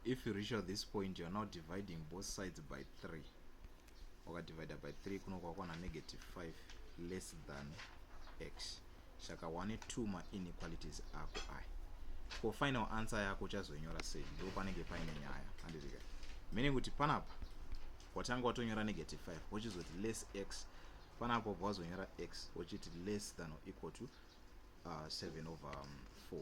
if you reach at this point you're now dividing both sides by 3 wakadivida by 3 kuno kwakwana negative 5 less than x saka wane two mainequalities ako aya ko final answer yako uchazonyora sei ndo panenge paine nyaya handirika meaning kuti panapa watanga watonyora negative 5 wochizoti less x panapa wazonyora x wochiti less than or equal to uh, 7 over um, 4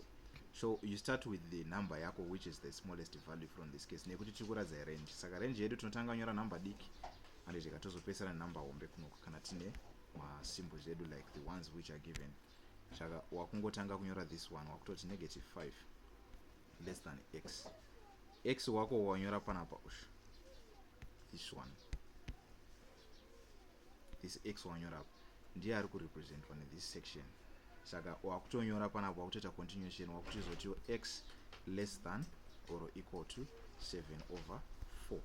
so you start with the number yako which is the smallest value from this case nekuti tiri kuratidza irange saka range yedu tinotanga nyora number diki and tika tozopesana number hombe kunoku kana tine masymbols edu like the ones which are given saka wakungotanga kunyora this one wakutoti negative 5 less than x x wako wanyora panapa ushu this one this x wanyora apa ndiye ari kurepresentwa nethis section saka wakutonyora panapa wakutoita continuation wakutoizotiwo x less than or equal to 7 over 4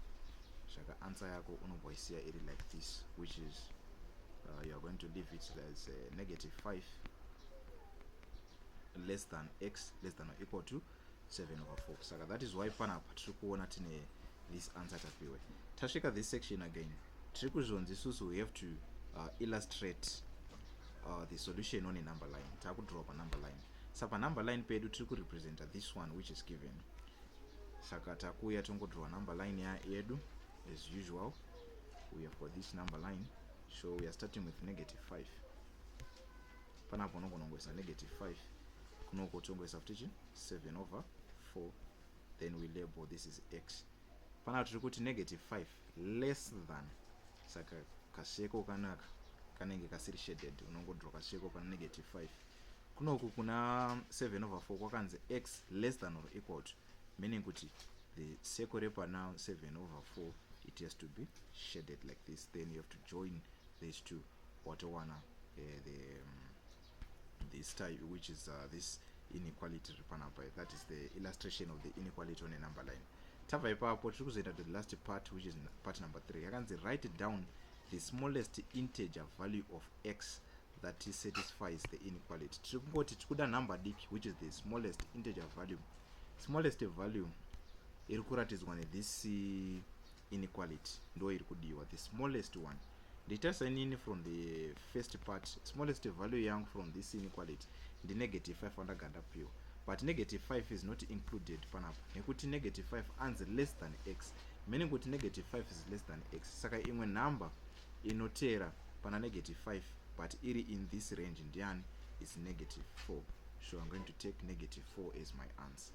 saka answer yako unobva isiya iri like this which is uh, youare going to leave it as uh, negative 5 less than x less than or equal to 7 over 4 saka that is why panapa tiri kuona tine this answer tapiwe tasvika this section again tiri kuzvonzi isusu we have to uh, illustrate uh, the solution on a number line takudraw panumber line sa panumber line pedu tiri kurepresenta this one which is given saka takuuya tongodraw number line yedu as usual we have got this number line so we are starting with negative 5 panapo unogona kungoisa negative 5 kunoko tongoisa futi chi 7 over 4 then we label this is x panapa tiri kuti negative 5 less than saka kasheko kanaka kanenge kasiri shaded unongodro kasheko pana negative 5 kunoku kuna 7 over 4 kwakanzi x less than or equal to meaning kuti the circle repana 7 over 4 it has to be shaded like this then you have to join these two watowana eh, the um, this type which is uh, this inequality riri panapa that is the illustration of the inequality on a number line tabva ipapo tiri kuzoenda to the last part which is part number three yakanzi write down the smallest integer value of x that satisfies the inequality tiri kungoti tiri kuda number diki which is the smallest integer value smallest value iri kuratidzwa nethis inequality ndo iri kudiwa the smallest one nditarisa inini from the first part smallest value yangu from this inequality ndi negative 5 wandaganda piwa but negative 5 is not included panapa nekuti negative 5 anzi less than x meaning kuti negative 5 is less than x saka imwe number inoteera pana negative 5 but iri in this range ndiani is negative 4 so i'm going to take negative 4 as my answer